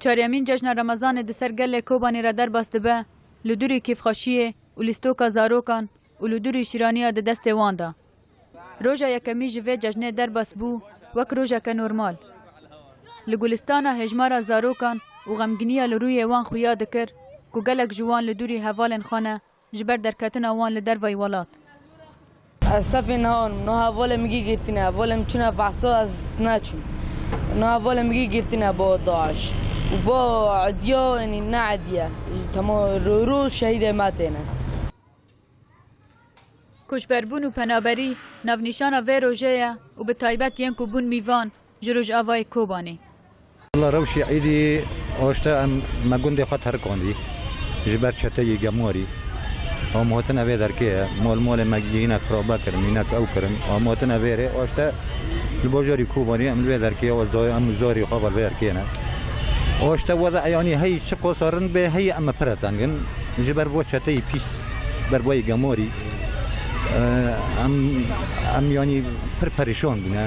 Çaryemîn cejna remezanê di ser gelê Kobanî re derbas dibe li durî kêfxweşiyê û lîstoka zarokan û li durî şîraniya di destê wan de. Roja yekemî ji vê cejnê derbas bû wek rojeke normal. Li Gulistana hêjmara zarokan û xemginiya li rûyê wan xuya dikir ku gelek ji wan li durî hevalên xwe ne Ji ber derketina wan li dervayî welat. Ez sefê niha in. Niha hevalê min gî girtîne. Hevalê min çûne behsa ez neçûm. Niha hevalê min gî girtîne bo DAIŞ. Û va Edîya yanî ne Edîye. Tema rû rû şehîdê me têne. Koçberbûn û penaberî navnîşana vê rojê ye û bi taybet yên ku bûn mîvan, Ji Rojavayê Kobanê. Li rewşê êdî oşte em me gundê xwe terikandî ji ber çeteyê gemwarî. Hom hatine vê derkê ye. Mol molê me hinek xirabe kirin, hinek ew kirin. Hom hatine vê rê. Oşte li bajarî Kobanê em li vê derkê ye. Oşte em û zarê xwe li vê derkê ne. Oşte weza eyanî hey çi qasa rind bê hey em pire teng in. Ji ber vê çeteyê pîs, ber vê gemwarî em em yanî pir perişan bûne.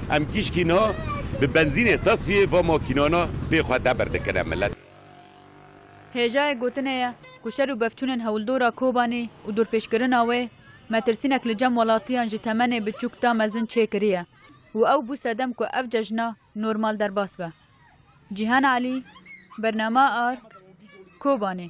Em kîşkî na bi benzînê tesfiyê va makînana pê xwe deber dikine milet. Hêjayê gotinê ye ku şer û bevçûnên Hewldora Kobanî û dorpêçkirina wê metirsînek li cem welatiyan ji temenê biçûk ta mezin çêkiriye û ew bû sedem ku ev cejna normal derbas be. Cîhan Elî, Bernama Ark, Kobanî.